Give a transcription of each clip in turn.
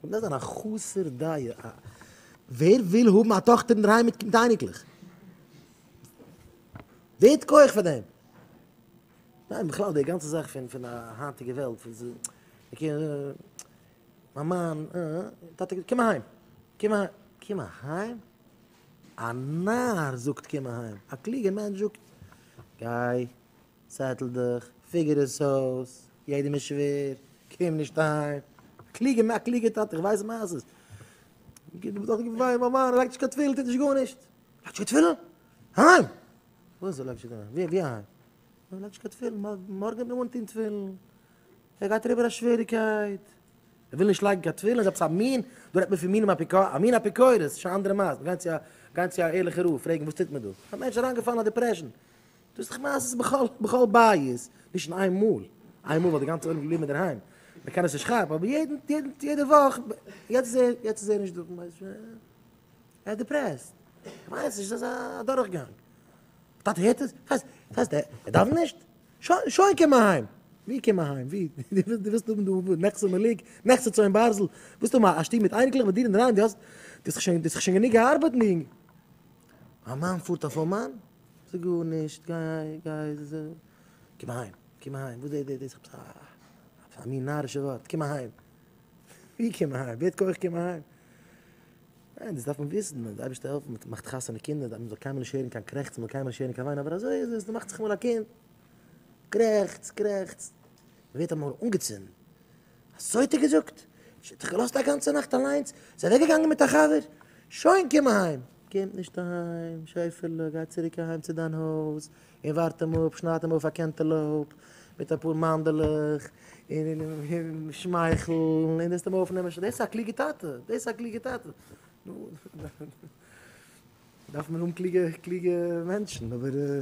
און דאס זיין א חסר דעה, א ווער וויל האבן א טאכטער אין דערהיים מיט קינד אייניקלעך? ווער האט כח פאר דעם? ניין בכלל די גאנצע זאך פון פון א היינטיגע וועלט פון ז ע קינד ע ע מיין מאן ע ע טאטע קום אהיים קום אהיים קום אהיים? א נאר זאגט קום אהיים א קלוגער מענטש זאגט גיי צעטל דיך, פיגער עס אויס, יעדעם איז שווער, קום נישט אהיים, קלוגע מאך קלוגע טאטע, איך ווייס מעשות, וויי מאמע לייגט נישט קיין תפילין טוט נישט גארנישט, לייגט נישט קיין תפילין? אהיים! וואס לייגט נישט אהיים? ווי אהיים? לייגט נישט קיין תפילין, מארגן וועט מען אנטוהן תפילין, ער גייט אריבער א שוועריקייט, ער וויל נישט לייגן קיין תפילין, איז עפעס א מין, דא רעדט מען פון מינים אפיקורס, א מין אפיקורס, שוין א אנדערע מעשה, גייען צו א גייען צו א ערליכע רב פרעגן וואס טוט מען דא, א מענטש איז אריינגעפאלן אין א דיפרעשאן, דאס איך מיין אז עס איז בכל בכל בית, נישט אין איין מאל, איין מאל וואלט די גאנצע עולם געבליבן אינדערהיים, מען קען עס נישט כאפן, אבער יעדן יעדן יעדע וואך, יעצט איז ער יעצט איז ער נישט דא, מיינסט ער איז דיפרעסט, איך מיין עס איז אזא דורכגאנג, טאטע הערט עס? ס'הייסט ס'הייסט ער דארף נישט? שוין שוין קום אהיים! ווי קום אהיים ווי? דו ווילסט דו ווילסט האבן דא נכסי מלוג, נכסי צאן ברזל, ווילסט האבן א שטוב מיט אייניקלעך ביי דיר אינדערהיים, דו האסט דו האסט דאך שוין דו האסט דאך שוין גענוג געארבעט און א מאן פארט אויף א מאן? זאג גארנישט, גיי, גיי, קום אהיים, קום אהיים, וואס איז דאס, עפעס א, עפעס א מין נארישע ווארט, קום אהיים, ווי קום אהיים, ווער האט כח קום אהיים? ניין, דאס דארף מען וויסן, מען דארף אייבישטער העלפן, מען מאכט חתונה קינדער, מען זאל קיינמאל נישט הערן קיין קרעכצן, מען זאל קיינמאל נישט הערן קיין וויין, אבער אזוי איז עס, מ'מאכט זיך אמאל א קינד, קרעכצט, קרעכצט, מ'ווערט אמאל אנגעצינדן. אזוי האט ער געזאגט, נישט האט זיך געלאזט א גאנצע נאכט אליינס, איז אוועק געגאנגען מיט א חבר, שוין קום אהיים, קומט נישט אהיים, שעפעלע גיי צוריק אהיים צו דיין הויז און ווארט אים אפ, שנייד אים אויף א קענטעלאופ מיט אפאר מאנדעלעך און שמייכל און וועסט אים אויפנעמען, דאס איז א קלוגע טאטע, דאס איז א קלוגע טאטע, נו דארף מען האבן קלוגע קלוגע מענטשן, אבער.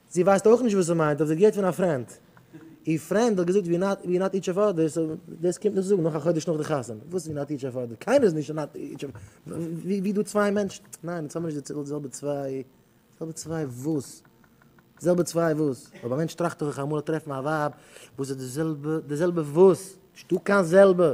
זי ווייסט אויך נישט וואס עס מיינט אבער זי האט געהערט פון א פרענד, איר פרענד האט געזאגט ווי נאט נאט איטש אף אדער, סאו דאס קומט נישט צו זאגן נאך א חודש נאך די חתונה, וואס ווי נאט איטש אף אדער, קיינער איז נישט נאט איטש אף אדער, ווי דא צוויי מענטשן, ניין אונז האבן נישט די זעלבע צוויי, די זעלבע צוויי וואס? די זעלבע צוויי וואס? אויב א מענטש טראכט דאך איך אמאל טרעפן א ווייב וואס איז די זעלבע, די זעלבע וואס? נישטא קיין זעלבע!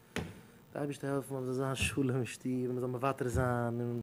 די אייבערשטער העלפן אז מען זאל זיין שלום אין שטוב און מען זאל מוותר זיין און.